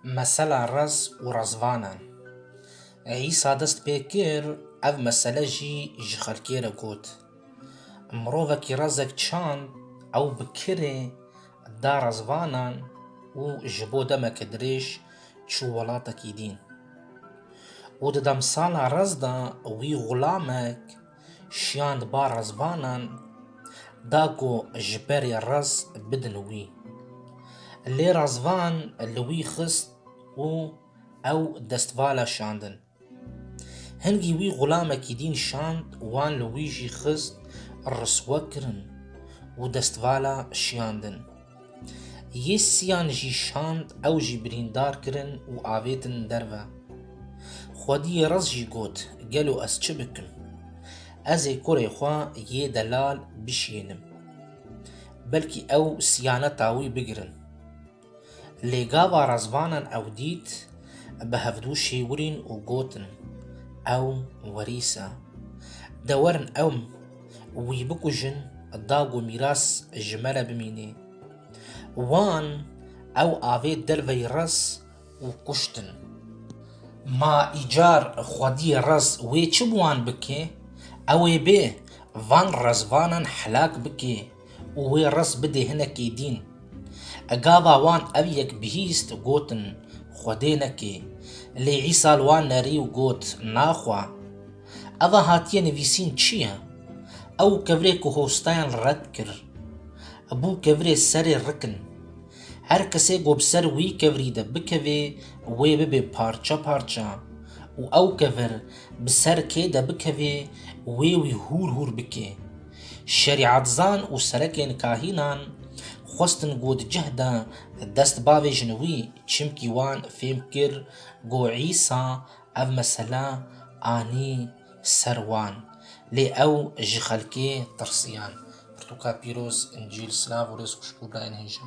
Mesela raz û razvanan. Îsa dest pê kir ev mesele jî ji xelkê re got. Mirovekî razek çand ew bi kirê da razvanan û ji bo demeke dirêj çû welatekî dîn. Û di demsala raz de wî xulamek Şiyand ba rezbanan da ku ji berê rez bidin wî. Lê rezvan li wî xist û ew dest va la şiyandin. Hingî wî xulamekî dîn şand wan li wî jî xist riswe kirin û dest va la şiyandin. Yê siyan jî şand ew jî birîndar kirin û avêtin derve. Xwediyê Res jî got, Gelo ez çi bikim? Ez ê kurê xwe yê delal bişînim. Belkî ew siyaneta wî bigirin. Lê gava Rezvanan ew dît, bi hevdû şêwirîn û gotin, Ew werîs e. De werin ew Wî bikujin, dag û mîras ji me re bimînê. Wan ew avê derveyî raz û kuştin. Ma îcar xwediyê raz wê çi bi wan bikê? Ew ê bê van rezvanan helak bikê. û wê ris bidê hinekî dîn. E gava wan ev yek bihîst gotin, Xwedê neke. Lê Îsa li wan nerî û got, Na xwe. Eva hatiye nivîsîn çi ye? Ew kevirê ku hostayan li red kir, bû kevirê serê rikin. Her kesê ku bi ser wî kevirî de bikevê wê bibe parça parça û ew kevir bi ser kê de bikevê wê wî hûr hûr bike. Şerîatzan û serekên kahînan xwestin ku di cih de dest bavê jin wî çimkî wan fêm kir ku Îsa ev mesele anî ser wan. Lê ew ji xelkê tirsiyan. Pirtûka pîroz, Încîl, silav û rêz xweş bo birayên hêja.